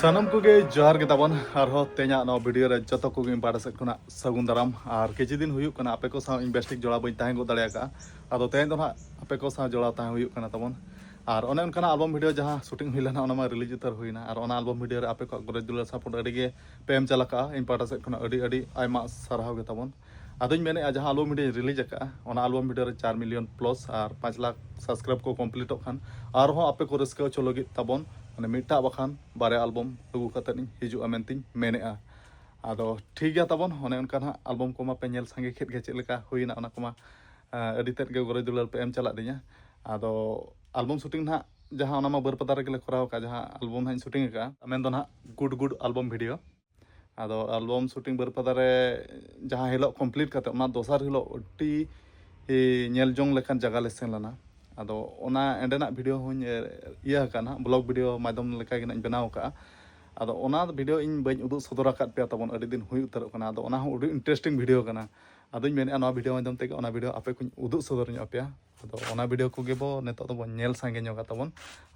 ᱥᱟᱱᱟᱢ ᱠᱚᱜᱮ ᱡᱚᱦᱟᱨ ᱜᱮ ᱛᱟᱵᱚᱱ ᱟᱨᱦᱚᱸ ᱛᱮᱦᱮᱧᱟᱜ ᱱᱚᱣᱟ ᱵᱷᱤᱰᱤᱭᱳ ᱨᱮ ᱡᱚᱛᱚ ᱠᱚᱜᱮ ᱤᱧ ᱯᱟᱦᱴᱟ ᱥᱮᱫ ᱠᱷᱚᱱᱟᱜ ᱥᱟᱹᱜᱩᱱ ᱫᱟᱨᱟᱢ ᱟᱨ ᱠᱤᱪᱷᱩ ᱫᱤᱱ ᱦᱩᱭᱩᱜ ᱠᱟᱱᱟ ᱟᱯᱮ ᱠᱚ ᱥᱟᱶ ᱤᱧ ᱵᱮᱥ ᱴᱷᱤᱠ ᱡᱚᱲᱟᱣ ᱵᱟᱹᱧ ᱛᱟᱦᱮᱸ ᱜᱚᱫ ᱫᱟᱲᱮ ᱟᱠᱟᱫᱼᱟ ᱟᱫᱚ ᱛᱮᱦᱮᱧ ᱫᱚ ᱱᱟᱦᱟᱜ ᱟᱯᱮ ᱠᱚ ᱥᱟᱶ ᱡᱚᱲᱟᱣ ᱛᱟᱦᱮᱸ ᱦᱩᱭᱩᱜ ᱠᱟᱱᱟ ᱛᱟᱵᱚᱱ ᱟᱨ ᱚᱱᱮ ᱚᱱᱠᱟᱱᱟᱜ ᱟᱞᱵᱚᱢ ᱵᱷᱤᱰᱤᱭᱳ ᱡᱟᱦᱟᱸ ᱥᱩᱴᱤᱝ ᱦᱩᱭ ᱞᱮᱱᱟ ᱚᱱᱟ ᱢᱟ ᱨᱤᱞᱤᱡᱽ ᱩᱛᱟᱹᱨ ᱦᱩᱭᱱᱟ ᱟᱨ ᱚᱱᱟ ᱟᱞᱵᱚᱢ ᱵᱷᱤᱰᱤᱭᱳ ᱨᱮ ᱟᱯᱮ ᱠᱚᱣᱟᱜ ᱜᱚᱨᱚᱡᱽ ᱫᱩᱞᱟᱹᱲ ᱥᱟᱯᱳᱨᱴ ᱟᱹᱰᱤ ᱜᱮ ᱯᱮ ᱮᱢ ᱪᱟᱞ ᱟᱠᱟᱫᱼᱟ ᱤᱧ ᱯᱟᱦᱴᱟ ᱥᱮᱫ ᱠᱷᱚᱱᱟᱜ ᱟᱹᱰᱤ ᱟᱹᱰᱤ ᱟᱭᱢᱟ ᱥᱟᱨᱦᱟᱣ ᱜᱮ ᱛᱟᱵᱚᱱ ᱟᱫᱚᱧ ᱢᱮᱱᱮᱜᱼᱟ ᱡᱟᱦᱟᱸ ᱟᱞᱵᱚᱢ ᱵᱷᱤᱰᱤᱭᱳᱧ ᱨᱤᱞᱤᱡᱽ ᱟᱠᱟᱫᱼᱟ ᱚᱱᱟ ᱟᱞᱵᱚᱢ ᱵᱷᱤᱰᱤᱭᱳ ᱨᱮ ᱪᱟᱨ ᱢᱤᱞᱤᱭᱚᱱ ᱯᱞᱚᱥ ᱟᱨ ᱯᱟᱸᱪ ᱞᱟᱠᱷ ᱥᱟᱵᱥᱠᱨᱟᱭᱤᱵᱽ ᱠᱚ ᱠᱚᱢᱯᱞᱤᱴᱚᱜ ᱠᱷᱟᱱ ᱟᱨᱦᱚᱸ ᱟᱯᱮ ᱠᱚ ᱨᱟᱹᱥᱠᱟᱹ ᱦᱚᱪᱚ ᱞᱟᱹᱜᱤᱫ ᱛᱟᱵᱚᱱ ᱢᱟᱱᱮ ᱢᱤᱫᱴᱟᱜ ᱵᱟᱠᱷᱟᱱ ᱵᱟᱨᱭᱟ ᱟᱞᱵᱚᱢ ᱟᱹᱜᱩ ᱠᱟᱛᱮᱫ ᱤᱧ ᱦᱤᱡᱩᱜᱼᱟ ᱢᱮᱱᱛᱮᱧ ᱢᱮᱱᱮᱜᱼᱟ ᱟᱫᱚ ᱴᱷᱤᱠ ᱜᱮᱭᱟ ᱛᱟᱵᱚᱱ ᱚᱱᱮ ᱚᱱᱠᱟ ᱱᱟᱦᱟᱜ ᱟᱞᱵᱚᱢ ᱠᱚᱢᱟ ᱯᱮ ᱧᱮᱞ ᱥᱟᱸᱜᱮ ᱠᱮᱫ ᱜᱮ ᱪᱮᱫ ᱞᱮᱠᱟ ᱦᱩᱭᱱᱟ ᱚᱱᱟ ᱠᱚᱢᱟ ᱟᱹᱰᱤ ᱛᱮᱫ ᱜᱮ ᱜᱚᱨᱚᱡᱽ ᱫᱩᱞᱟᱹᱲ ᱯᱮ ᱮᱢ ᱪᱟᱞᱟᱜ ᱫᱤᱧᱟ ᱟᱫᱚ ᱟᱞᱵᱚᱢ ᱥᱩᱴᱤᱝ ᱱᱟᱦᱟᱜ ᱡᱟᱦᱟᱸ ᱚᱱᱟ ᱢᱟ ᱵᱟᱹᱨᱯᱟᱫᱟ ᱨᱮᱜᱮ ᱞᱮ ᱠᱚᱨᱟᱣ ᱟᱠᱟᱫᱼᱟ ᱡᱟᱦᱟᱸ ᱟᱞᱵᱚᱢ ᱱᱟᱦᱟᱜ ᱤᱧ ᱥᱩᱴᱤᱝ ᱟᱠᱟᱫᱼᱟ ᱢᱮᱱ ᱫᱚ ᱱᱟᱦᱟᱜ ᱜᱩᱰ ᱜᱩᱰ ᱟᱞᱵᱚᱢ ᱵᱷᱤᱰᱤᱭᱳ ᱟᱫᱚ ᱟᱞᱵᱚᱢ ᱥᱩᱴᱤᱝ ᱵᱟᱹᱨᱯᱟᱫᱟ ᱨᱮ ᱡᱟᱦᱟᱸ ᱦᱤᱞᱳᱜ ᱠᱚᱢᱯᱞᱤᱴ ᱠᱟᱛᱮ ᱚᱱᱟ ᱫᱚᱥᱟᱨ ᱦᱤᱞᱳᱜ ᱟᱹᱰᱤ ᱧᱮᱞ ᱡᱚᱝ ᱞᱮᱠᱟᱱ ᱡᱟᱭᱜᱟ ᱞᱮ ᱥᱮᱱ ᱞᱮᱱᱟ ᱟᱫᱚ ᱚᱱᱟ ᱮᱸᱰᱮᱱᱟᱜ ᱵᱷᱤᱰᱤᱭᱳ ᱦᱚᱸᱧ ᱤᱭᱟᱹ ᱟᱠᱟᱫᱼᱟ ᱱᱟᱦᱟᱜ ᱵᱞᱚᱜ ᱵᱷᱤᱰᱤᱭᱳ ᱢᱟᱫᱽᱫᱷᱚᱢ ᱞᱮᱠᱟ ᱜᱮ ᱱᱟᱦᱟᱜ ᱤᱧ ᱵᱮᱱᱟᱣ ᱟᱠᱟᱫᱼᱟ ᱟᱫᱚ ᱚᱱᱟ ᱵᱷᱤᱰᱤᱭᱳ ᱤᱧ ᱵᱟᱹᱧ ᱩᱫᱩᱜ ᱥᱚᱫᱚᱨ ᱟᱠᱟᱫ ᱯᱮᱭᱟ ᱛᱟᱵᱚᱱ ᱟᱹᱰᱤ ᱫᱤᱱ ᱦᱩᱭ ᱩᱛᱟᱹᱨᱚᱜ ᱠᱟᱱᱟ ᱟᱫᱚ ᱚᱱᱟ ᱦᱚᱸ ᱟᱹᱰᱤ ᱤᱱᱴᱟᱨᱮᱥᱴᱤᱝ ᱵᱷᱤᱰᱤᱭᱳ ᱠᱟᱱᱟ ᱟᱫᱚᱧ ᱢᱮᱱᱮᱫᱼᱟ ᱱᱚᱣᱟ ᱵᱷᱤᱰᱤᱭᱳ ᱢᱟᱫᱽᱫᱷᱚᱢ ᱛᱮᱜᱮ ᱚᱱᱟ ᱵᱷᱤᱰᱤᱭᱳ ᱟᱯᱮ ᱠᱚᱧ ᱩᱫᱩᱜ ᱥᱚᱫᱚᱨ ᱧᱚᱜ ᱟᱯᱮᱭᱟ ᱟᱫᱚ ᱚᱱᱟ ᱵᱷᱤᱰᱤᱭᱳ ᱠᱚᱜᱮ ᱵᱚ ᱱᱤᱛᱚᱜ ᱫᱚᱵᱚᱱ ᱧᱮᱞ ᱥᱟᱸᱜᱮ ᱧᱚᱜᱟ ᱛᱟᱵᱚᱱ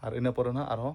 ᱟᱨ ᱤᱱᱟᱹ ᱯᱚᱨᱮ ᱱᱟᱦᱟᱜ ᱟᱨᱦᱚᱸ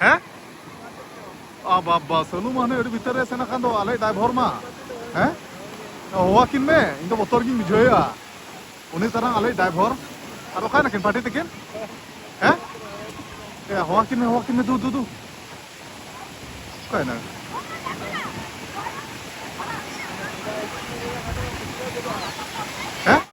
ᱦᱮᱸ ᱟ ᱵᱟᱵᱟ ᱥᱟᱹᱞᱩ ᱢᱟ ᱦᱟᱱᱮ ᱟᱹᱰᱤ ᱵᱷᱤᱛᱟᱹᱨ ᱨᱮ ᱥᱮᱱ ᱟᱠᱟᱱ ᱫᱚ ᱟᱞᱮ ᱰᱟᱭᱵᱷᱚᱨ ᱢᱟ ᱦᱮᱸ ᱦᱚᱦᱚᱣᱟᱠᱤᱱ ᱢᱮ ᱤᱧ ᱫᱚ ᱵᱚᱛᱚᱨ ᱜᱤᱧ ᱵᱩᱡᱷᱟᱹᱣᱮᱫᱼᱟ ᱩᱱᱤ ᱛᱟᱨᱟᱝ ᱟᱞᱮ ᱰᱟᱭᱵᱷᱚᱨ ᱟᱨ ᱚᱠᱟᱭ ᱱᱟᱠᱤᱱ ᱯᱟᱴᱤ ᱛᱟᱹᱠᱤᱱ ᱦᱮᱸ ᱮ ᱦᱚᱦᱚᱣᱟᱠᱤᱱ ᱢᱮ ᱦᱚᱦᱚᱣᱟᱠᱤᱱ ᱢᱮ ᱫᱩ ᱫᱩ ᱫᱩ ᱚᱠᱟᱭ ᱱᱟ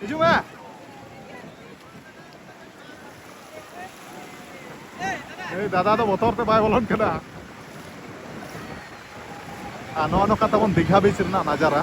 ᱦᱤᱡᱩᱜ ᱢᱮ ᱮᱭ ᱫᱟᱫᱟ ᱫᱚ ᱵᱚᱛᱚᱨ ᱛᱮ ᱵᱟᱭ ᱵᱚᱞᱚᱱ ᱠᱟᱱᱟ ᱟᱨ ᱱᱚᱜᱼᱚ ᱱᱚᱝᱠᱟ ᱛᱟᱵᱚᱱ ᱫᱤᱜᱷᱟ ᱵᱤᱪ ᱨᱮᱱᱟᱜ ᱱᱟᱡᱟᱨᱟ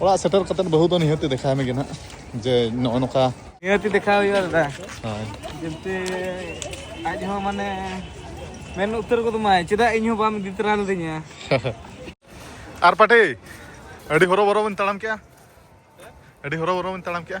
ᱚᱲᱟᱜ ᱥᱮᱴᱮᱨ ᱠᱟᱛᱮ ᱵᱟᱹᱦᱩ ᱫᱚ ᱱᱤᱦᱟᱹᱛ ᱫᱮᱠᱷᱟᱣ ᱢᱮᱜᱮ ᱱᱟᱜ ᱡᱮ ᱱᱚᱜᱼᱚ ᱱᱚᱝᱠᱟ ᱱᱤᱦᱟᱹᱛ ᱫᱮᱠᱷᱟᱣ ᱦᱩᱭᱩᱜᱼᱟ ᱫᱟᱫᱟ ᱦᱳᱭ ᱡᱮᱢᱛᱮ ᱟᱡ ᱦᱚᱸ ᱢᱟᱱᱮ ᱢᱮᱱ ᱩᱛᱟᱹᱨ ᱠᱚᱫᱚ ᱢᱟᱭ ᱪᱮᱫᱟᱜ ᱤᱧ ᱦᱚᱸ ᱵᱟᱢ ᱤᱫᱤ ᱛᱚᱨᱟ ᱞᱤᱫᱤᱧᱟ ᱟᱨ ᱯᱟᱴᱤ ᱟᱹᱰᱤ ᱦᱚᱨᱚᱵᱚᱨᱚ ᱵᱚᱱ ᱛᱟᱲᱟᱢ ᱠᱮᱜᱼᱟ ᱟᱹᱰᱤ ᱦᱚᱨᱚᱵᱚᱨᱚ ᱵᱚᱱ ᱛᱟᱲᱟᱢ ᱠᱮᱜᱼᱟ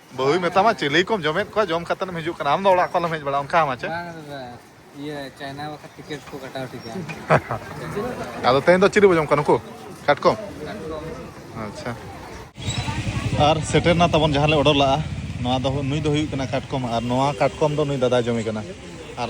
ᱵᱟᱹᱦᱩᱭ ᱢᱮᱛᱟᱢᱟ ᱪᱤᱞᱤ ᱠᱚᱢ ᱡᱚᱢᱮᱫ ᱠᱚᱣᱟ ᱡᱚᱢ ᱠᱟᱛᱮ ᱮᱢ ᱦᱤᱡᱩᱜ ᱠᱟᱱᱟ ᱟᱢ ᱫᱚ ᱚᱲᱟᱜ ᱠᱚ ᱟᱞᱚᱢ ᱦᱮᱡ ᱵᱟᱲᱟᱜᱼᱟ ᱚᱱᱠᱟ ᱢᱟ ᱪᱮ ᱤᱭᱟᱹ ᱪᱟᱭᱱᱟ ᱵᱟᱠᱷᱟ ᱴᱤᱠᱮᱴ ᱠᱚ ᱠᱟᱴᱟᱣ ᱴᱷᱤᱠᱟ ᱟᱫᱚ ᱛᱮᱦᱮᱧ ᱫᱚ ᱪᱤᱞᱤ ᱵᱚ ᱡᱚᱢ ᱠᱚᱣᱟ ᱱᱩᱠᱩ ᱠᱟᱴᱠᱚᱢ ᱟᱪᱪᱷᱟ ᱟᱨ ᱥᱮᱴᱮᱨ ᱱᱟ ᱛᱟᱵᱚᱱ ᱡᱟᱦᱟᱸ ᱞᱮ ᱚᱰᱚᱨ ᱞᱟᱜᱼᱟ ᱱᱚᱣᱟ ᱫᱚ ᱱᱩᱭ ᱫᱚ ᱦᱩᱭᱩᱜ ᱠᱟᱱᱟ ᱠᱟᱴᱠᱚᱢ ᱟᱨ ᱱᱚᱣᱟ ᱠᱟᱴᱠᱚᱢ ᱫᱚ ᱱᱩᱭ ᱫᱟᱫᱟᱭ ᱡᱚᱢᱮ ᱠᱟᱱᱟ ᱟᱨ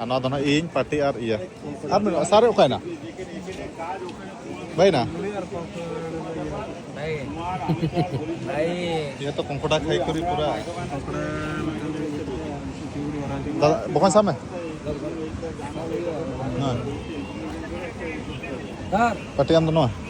ᱟᱨ ᱱᱚᱣᱟ ᱫᱚ ᱱᱟᱜ ᱤᱧ ᱯᱟᱴᱤ ᱟᱨ ᱤᱭᱟᱹ ᱟᱨ ᱢᱮᱱᱟᱜᱼᱟ ᱥᱟᱨᱮ ᱚᱠᱟᱭᱮᱱᱟ ᱵᱟᱭᱱᱟ ᱤᱭᱟᱹ ᱛᱚ ᱠᱚᱝᱠᱚᱰᱟ ᱠᱷᱟᱭ ᱠᱚᱨᱤ ᱯᱩᱨᱟ ᱫᱟᱫᱟ ᱵᱚᱠᱚᱧ ᱥᱟᱵ ᱢᱮ ᱯᱟᱴᱤ ᱟᱢ ᱫᱚ ᱱᱚᱣᱟ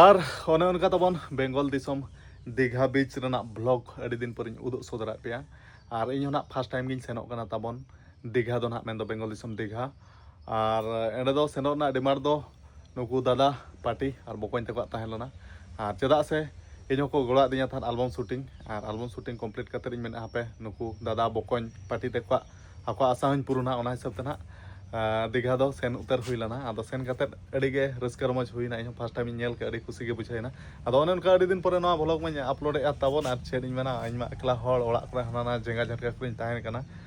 ᱟᱨ ᱚᱱᱮ ᱚᱱᱠᱟ ᱛᱟᱵᱚᱱ ᱵᱮᱝᱜᱚᱞ ᱫᱤᱥᱚᱢ ᱫᱤᱜᱷᱟ ᱵᱤᱪ ᱨᱮᱱᱟᱜ ᱵᱞᱚᱜ ᱟᱹᱰᱤ ᱫᱤᱱ ᱯᱚᱨᱮᱧ ᱩᱫᱩᱜ ᱥᱚᱫᱚᱨᱟᱜ ᱯᱮᱭᱟ ᱟᱨ ᱤᱧ ᱦᱚᱸ ᱱᱟᱜ ᱯᱷᱟᱥᱴ ᱴᱟᱭᱤᱢ ᱜᱤᱧ ᱥᱮᱱᱚᱜ ᱠᱟᱱᱟ ᱛᱟᱵᱚᱱ ᱫᱤᱜᱷᱟ ᱫᱚ ᱱᱟᱜ ᱢᱮᱱᱫᱚ ᱵᱮᱝᱜᱚᱞ ᱫᱤᱥᱚᱢ ᱫᱤᱜᱷᱟ ᱟᱨ ᱮᱸᱰᱮ ᱫᱚ ᱥᱮᱱᱚᱜ ᱨᱮᱱᱟᱜ ᱰᱤᱢᱟᱱᱰ ᱫᱚ ᱱᱩᱠᱩ ᱫᱟᱫᱟ ᱯᱟᱴᱤ ᱟᱨ ᱵᱚᱠᱚᱧ ᱛᱟᱠᱚᱣᱟᱜ ᱛᱟᱦᱮᱸ ᱞᱮᱱᱟ ᱟᱨ ᱪᱮᱫᱟᱜ ᱥᱮ ᱤᱧ ᱦᱚᱸᱠᱚ ᱜᱚᱲᱚ ᱟᱫᱤᱧᱟ ᱛᱟᱦᱮᱸᱫ ᱟᱞᱵᱚᱢ ᱥᱩᱴᱤᱝ ᱟᱨ ᱟᱞᱵᱚᱢ ᱥᱩᱴᱤᱝ ᱠᱚᱢᱯᱞᱤᱴ ᱠᱟᱛᱮᱫ ᱤᱧ ᱢᱮᱱᱟ ᱦᱟᱯᱮ ᱱᱩᱠᱩ ᱫᱟᱫᱟ ᱵᱚᱠᱚᱧ ᱯᱟᱴᱤ ᱛᱟᱠᱚᱣᱟᱜ ᱟᱠᱚᱣᱟᱜ ᱟᱥᱟ ᱦᱚᱸᱧ ᱯᱩᱨᱩᱱᱟ ᱚᱱᱟ ᱦᱤᱥᱟᱹᱵ ᱛᱮ ᱱᱟᱦᱟᱜ ᱫᱤᱜᱷᱟ ᱫᱚ ᱥᱮᱱ ᱩᱛᱟᱹᱨ ᱦᱩᱭ ᱞᱮᱱᱟ ᱟᱫᱚ ᱥᱮᱱ ᱠᱟᱛᱮᱫ ᱟᱹᱰᱤ ᱜᱮ ᱨᱟᱹᱥᱠᱟᱹ ᱨᱚᱢᱚᱡᱽ ᱦᱩᱭᱱᱟ ᱤᱧ ᱦᱚᱸ ᱯᱷᱟᱥᱴ ᱴᱟᱭᱤᱢ ᱤᱧ ᱧᱮᱞ ᱠᱮᱫ ᱟᱹᱰᱤ ᱠᱩᱥᱤ ᱜᱮ ᱵᱩᱡᱷᱟᱹᱣᱱᱟ ᱟᱫᱚ ᱚᱱᱮ ᱚᱱᱠᱟ ᱟᱹᱰᱤ ᱫᱤᱱ ᱯᱚᱨᱮ ᱱᱚᱣᱟ ᱵᱷᱞᱚᱜᱽ ᱢᱟᱹᱧ ᱟᱯᱞᱳᱰᱮᱜᱼᱟ ᱛᱟᱵᱚᱱ ᱟᱨ ᱪᱮᱫ ᱤᱧ ᱢᱮᱱᱟ ᱤᱧ ᱢᱟ ᱮᱠᱞᱟ ᱦᱚᱲ ᱚᱲᱟᱜ ᱠᱚᱨᱮ ᱦᱟᱱᱟ ᱱᱟᱣᱟ ᱡᱟᱸᱜᱟ ᱡᱷᱟᱴᱠᱟ ᱠᱚᱨᱮᱧ ᱛᱟᱦᱮᱱ ᱠᱟᱱᱟ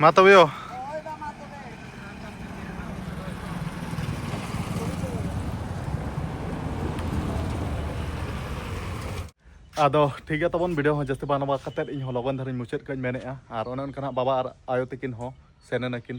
ᱢᱟ ᱛᱚᱵᱮ ᱭᱳ ᱟᱫᱚ ᱴᱷᱤᱠ ᱜᱮᱭᱟ ᱛᱟᱵᱚᱱ ᱵᱷᱤᱰᱤᱭᱳ ᱦᱚᱸ ᱡᱟᱹᱥᱛᱤ ᱵᱟᱝ ᱱᱚᱣᱟ ᱠᱟᱛᱮᱫ ᱤᱧ ᱦᱚᱸ ᱞᱚᱜᱚᱱ ᱫᱷᱟᱨᱟᱧ ᱢᱩᱪᱟᱹᱫ ᱠᱟᱜ ᱢᱮᱱᱮᱜᱼᱟ ᱟᱨ ᱚᱱᱮ ᱚᱱᱠᱟᱱᱟᱜ ᱵᱟᱵᱟ ᱟᱨ ᱟᱭᱳ ᱛᱟᱹᱠᱤᱱ ᱦᱚᱸ ᱥᱮᱱ ᱮᱱᱟᱠᱤᱱ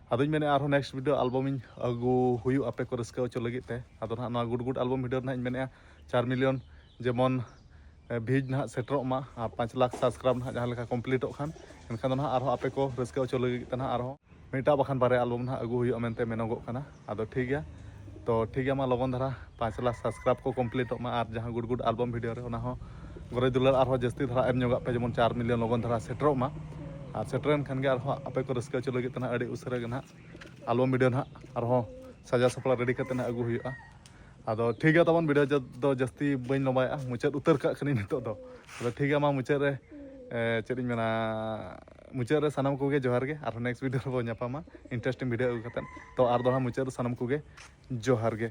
ᱟᱫᱚᱧ ᱢᱮᱱᱮᱫ ᱟᱨᱦᱚᱸ ᱱᱮᱠᱥᱴ ᱵᱷᱤᱰᱤᱭᱳ ᱟᱞᱵᱚᱢ ᱤᱧ ᱟᱹᱜᱩ ᱦᱩᱭᱩᱜ ᱟᱯᱮ ᱠᱚ ᱨᱟᱹᱥᱠᱟᱹ ᱦᱚᱪᱚ ᱞᱟᱹᱜᱤᱫ ᱛᱮ ᱟᱫᱚ ᱱᱟᱦᱟᱜ ᱱᱚᱣᱟ ᱜᱩᱰ ᱜᱩᱰ ᱟᱞᱵᱚᱢ ᱵᱷᱤᱰᱤᱭᱳ ᱨᱮᱱᱟᱜ ᱤᱧ ᱢᱮᱱᱮᱫᱼᱟ ᱪᱟᱨ ᱢᱤᱞᱤᱭᱚᱱ ᱡᱮᱢᱚᱱ ᱵᱷᱤᱡᱽ ᱱᱟᱦᱟᱜ ᱥᱮᱴᱮᱨᱚᱜ ᱢᱟ ᱟᱨ ᱯᱟᱸᱪ ᱞᱟᱠᱷ ᱥᱟᱵᱥᱠᱨᱟᱭᱤᱵᱽ ᱱᱟᱦᱟᱜ ᱡᱟᱦᱟᱸ ᱞᱮᱠᱟ ᱠᱚᱢᱯᱞᱤᱴᱚᱜ ᱠᱷᱟᱱ ᱮᱱᱠᱷᱟᱱ ᱫᱚ ᱱᱟᱦᱟᱜ ᱟᱨᱦᱚᱸ ᱟᱯᱮ ᱠᱚ ᱨᱟᱹᱥᱠᱟᱹ ᱦᱚᱪᱚ ᱞᱟᱹᱜᱤᱫ ᱛᱮ ᱱᱟᱦᱟᱜ ᱟᱨᱦᱚᱸ ᱢᱤᱫᱴᱟᱝ ᱵᱟᱠᱷᱟᱱ ᱵᱟᱨᱭᱟ ᱟᱞᱵᱚᱢ ᱱᱟᱦᱟᱜ ᱟᱹᱜᱩ ᱦᱩᱭᱩᱜᱼᱟ ᱢᱮᱱᱛᱮ ᱢᱮᱱᱚᱜᱚᱜ ᱠᱟᱱᱟ ᱟᱫᱚ ᱴᱷᱤᱠ ᱜᱮᱭᱟ ᱛᱚ ᱴᱷᱤᱠ ᱜᱮᱭᱟ ᱢᱟ ᱞᱚᱜᱚᱱ ᱫᱷᱟᱨᱟ ᱯᱟᱸᱪ ᱞᱟᱠᱷ ᱥᱟᱵᱥᱠᱨᱟᱭᱤᱵᱽ ᱠᱚ ᱠᱚᱢᱯᱞᱤᱴᱚᱜ ᱢᱟ ᱟᱨ ᱡᱟᱦᱟᱸ ᱜᱩᱰ ᱜᱩᱰ ᱟᱞᱵᱚᱢ ᱵᱷᱤᱰᱤᱭᱳ ᱨᱮ ᱚᱱᱟ ᱦᱚᱸ ᱜᱚᱨᱚᱡᱽ ᱫᱩᱞᱟᱹᱲ ᱟᱨᱦᱚᱸ ᱡᱟᱹᱥᱛᱤ ᱫᱷᱟᱨᱟ ᱮᱢ ᱧᱚᱜᱟᱜ ᱯᱮ ᱡᱮᱢᱚᱱ ᱪᱟᱨ ᱢᱤᱞᱤᱭᱚᱱ ᱞᱚᱜᱚᱱ ᱫᱷᱟᱨᱟ ᱥᱮᱴᱮᱨᱚᱜ ᱢᱟ ᱟᱨ ᱥᱮᱴᱮᱨᱮᱱ ᱠᱷᱟᱱ ᱜᱮ ᱟᱨᱦᱚᱸ ᱟᱯᱮ ᱠᱚ ᱨᱟᱹᱥᱠᱟᱹ ᱦᱚᱪᱚ ᱞᱟᱹᱜᱤᱫ ᱛᱮ ᱱᱟᱦᱟᱜ ᱟᱹᱰᱤ ᱩᱥᱟᱹᱨᱟ ᱜᱮ ᱱᱟᱦᱟᱜ ᱟᱞᱵᱚᱢ ᱵᱷᱤᱰᱤᱭᱳ ᱱᱟᱦᱟᱜ ᱟᱨᱦᱚᱸ ᱥᱟᱡᱟᱣ ᱥᱟᱯᱲᱟᱣ ᱨᱮᱰᱤ ᱠᱟᱛᱮ ᱱᱟᱦᱟᱜ ᱟᱹᱜᱩ ᱦᱩᱭᱩᱜᱼᱟ ᱟᱫᱚ ᱴᱷᱤᱠ ᱜᱮᱭᱟ ᱛᱟᱵᱚᱱ ᱵᱷᱤᱰᱤᱭᱳ ᱫᱚ ᱡᱟᱹᱥᱛᱤ ᱵᱟᱹᱧ ᱞᱚᱢᱵᱟᱭᱮᱜᱼᱟ ᱢᱩᱪᱟᱹᱫ ᱩᱛᱟᱹᱨ ᱠᱟᱜ ᱠᱟᱹᱱᱟᱹᱧ ᱱᱤᱛᱚᱜ ᱫᱚ ᱟᱫᱚ ᱴᱷᱤᱠ ᱜᱮᱭᱟ ᱢᱟ ᱢᱩᱪᱟᱹᱫ ᱨᱮ ᱪᱮᱫ ᱤᱧ ᱢᱮᱱᱟ ᱢᱩᱪᱟᱹᱫ ᱨᱮ ᱥᱟᱱᱟᱢ ᱠᱚᱜᱮ ᱡᱚᱦᱟᱨ ᱜᱮ ᱟᱨᱦᱚᱸ ᱱᱮᱠᱥᱴ ᱵᱷᱤᱰᱤᱭᱳ ᱨᱮᱵᱚᱱ ᱧᱟᱯᱟᱢᱟ ᱤᱱᱴᱟᱨᱮᱥᱴᱤᱝ ᱵᱷᱤᱰᱤᱭᱳ ᱟᱹᱜᱩ ᱠᱟᱛᱮ ᱛᱚ ᱟᱨ ᱫᱚᱲᱦᱟ ᱢᱩᱪᱟᱹᱫ ᱨᱮ ᱥᱟᱱᱟᱢ ᱠᱚᱜᱮ ᱡᱚᱦᱟᱨ ᱜᱮ